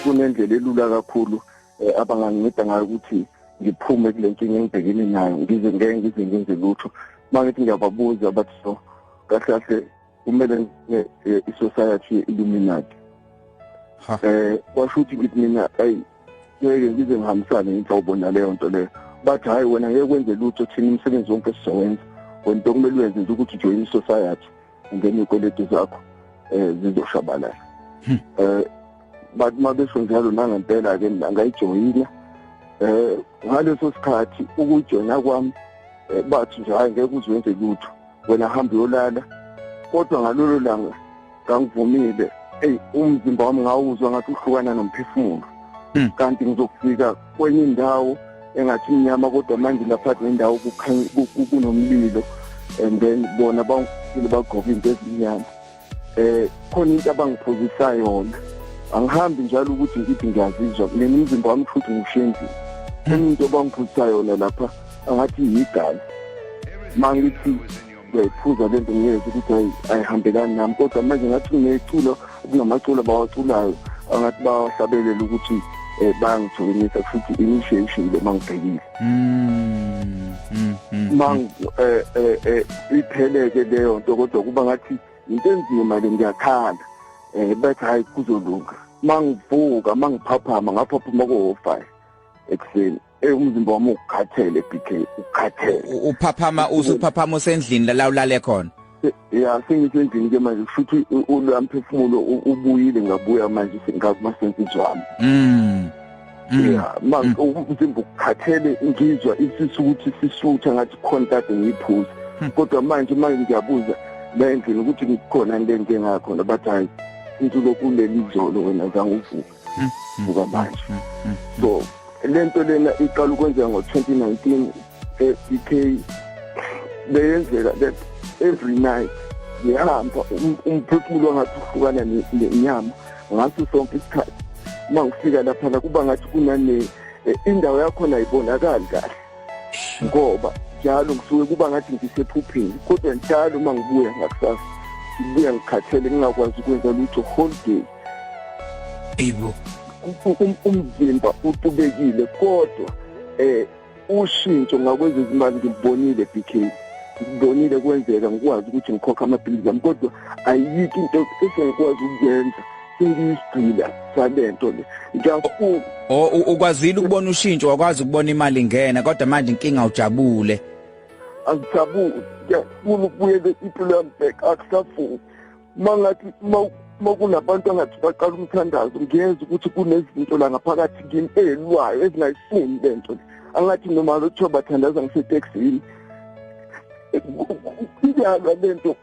kunendlela elula kakhulu eh, abanganginceda ngayo ukuthi ngiphume kule nkinga engibhekene nayo ngize ngeke ngize ngenze lutho uma ngithi ngiyababuza bathi so kahle kahle kumele eh, i-society ye-illuminati um kwasho ukuthi ngithi mina ayi ngeke ngize ngihambisane inhlobo naleyo nto leyo bathi hhayi wena ngeke kwenze lutho thina umsebenzi wonke sizowenza wena into kumele uyenze nje ukuthi ujoyine isociety ungene iy'kweletu zakho um zizoshabalala um hmm. bathi uma besho njalo nangempela-ke angayijoyina um ngaleso sikhathi ukujoyina kwami bathi nje hhayi ngeke uze wenze lutho wena hamba uyolala kodwa ngalolo langa ngangivumile eyi umzimba wami ngawuzwa ngathi uhlukana nomphefumulo hmm. kanti ngizokufika kwenye indawo engathi mnyama kodwa manje lapha nendawo kunomlilo and then bona bangifile bagqoka into ezimnyama eh khona into abangiphuzisa yona angihambi njalo ukuthi ngithi ngiyazizwa mina umzimba wami futhi ngishenzile khona into abangiphuzisa yona lapha angathi yigazi mangithi uyayiphuza le nto ngiyezwa ukuthi hayi ayihambelani nami kodwa manje ngathi kunecula kunamaculo abawaculayo angathi bawahlabelela ukuthi um eh, bayangithokomisa futhi initiation le mangibhekile Mm, mm, mm, ma mm. eh, eh, eh, ipheleke leyo nto kodwa kuba ngathi into enzima le ngiyakhala eh bathi hayi kuzolunga mangivuka mangiphaphama ngaphaphuma ko-five ekuseni eh umzimba wami ukhathele BK ukhathele uphaphama usuphaphama usendlini la ulale khona ya sengisendlini ke manje futhi ulamphefumulo ubuyile ngabuya manje sengakumasensizi wami mm Mm. yeah manje mm. umzimba ukukhathele ngizwa isisu ukuthi sisutha ngathi khona kade ngiyiphuza hmm. kodwa manje manje ngiyabuza la endlini ukuthi ngikhona into enjengakhona bathi hayi into lokhu leli izolo wena zange uvuke ngokwamanje so le nto lena iqala ukwenzeka ngo-2019 e-uk beyenzeka that every night ngiyahamba um-, umphefumulo ngathi uhlukana nenyama ngaso sonke isikhathi uma ngifika laphana kuba ngathi kunane e, indawo yakhona ayibonakali kahle ngoba njalo ngisuke kuba ngathi ngisephupheni kodwa njalo uma ngibuya ngakusasa ngibuya ngikhathele ngingakwazi ukwenza lutho whole day Ibo um, umzimba utubekile kodwa eh ushintsho ngakwezezimali ngibonile BK ngibonile kwenzeka ngikwazi ukuthi ngikhokha amaphilisi ami kodwa ayikho into esengikwazi ukuyenza sengiyisigcila salento le ngiyafuka ukwazile ukubona ushintsho wakwazi ukubona imali ingena kodwa manje inkinga ujabule angijabule ngiyafuna ukubuyela impilo yami back akusafuni mangathi makunabantu angathi baqala umthandazo ngiyeza ukuthi kunezinto la ngaphakathi kimi elwayo ezingayifuni le nto angathi noma lothiwa bathandaza ngiseteksini iyalwa le nto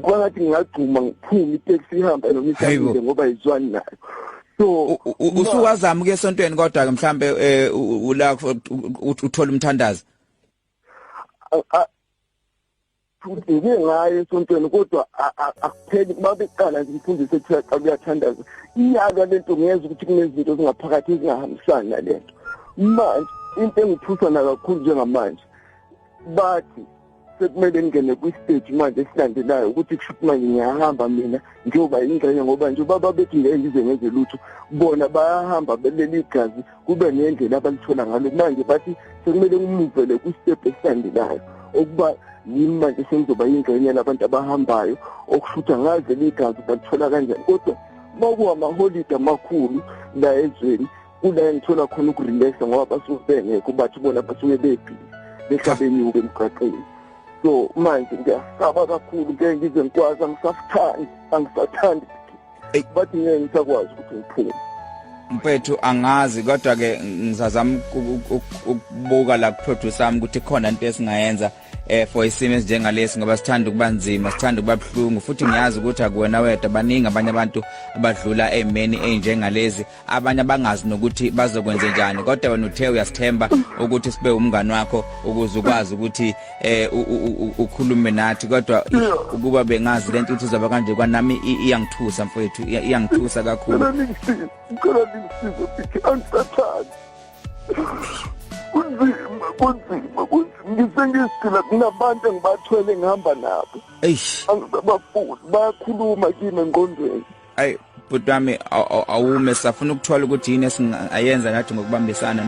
kwangathi ngingagcuma ngiphume iteksi ihamba noma ihlangile ngoba izwani nayo so usuwazama ke esontweni kodwa ke mhlambe eh, ula uthola umthandazo ngibheke ngayo esontweni kodwa akupheli kuba beqala ngimfundise kuthiwa xa kuyathandaza iyalwa le nto ngeza ukuthi kunezinto ezingaphakathi ezingahambisani nale nto manje into engithusana kakhulu njengamanje bathi sekumele ngingene kwi-stage manje esilandelayo ukuthi kusho ukuthi manje ngiyahamba mina njengoba yingxenye ngoba nje ubaba bethi ngeke ngize ngenze lutho bona bayahamba beleli igazi kube ngendlela abalithola ngalo manje bathi sekumele kumuvele kustep esilandelayo okuba yimi manje sengizoba yingxenye labantu abahambayo okushutha ngaze ligazi balithola kanjani kodwa uma kuwamaholide amakhulu la ezweni kula engithola khona ukurelaxa ngoba basuke bengekho bathi bona basuke bebhizi behlabenyuke emgaqeni so manje ngiyasaba kakhulu ngeke ngize ngikwazi angisafuthandi angisathandi bathi ngeke ngisakwazi ukuthi ngiphume mfethu angazi kodwa ke ngizazama ukubuka la kuproducer ami ukuthi khona into esingayenza eh for isimo esinjengalesi ngoba sithanda ukuba nzima sithanda ukuba buhlungu futhi ngiyazi ukuthi akuwena wedwa baningi abanye abantu abadlula emeni enjengalezi abanye abangazi nokuthi bazokwenze njani kodwa wena uthe uyasithemba ukuthi sibe umngani wakho ukuze ukwazi ukuthi eh ukhulume nathi kodwa ukuba bengazi lento ukuthi uzoba kanje kwanami iyangithusa mfowethu iyangithusa kakhulu ngicela ningisize ukuthi angisathandi kunzima kunzima kunzima ngisengisigila kunabantu engibathwele ngihamba nabo eish angibafuni bayakhuluma kimi engqondweni ayi bhuti wami awume safuna ukuthola ukuthi yini esingayenza nathi ngokubambisana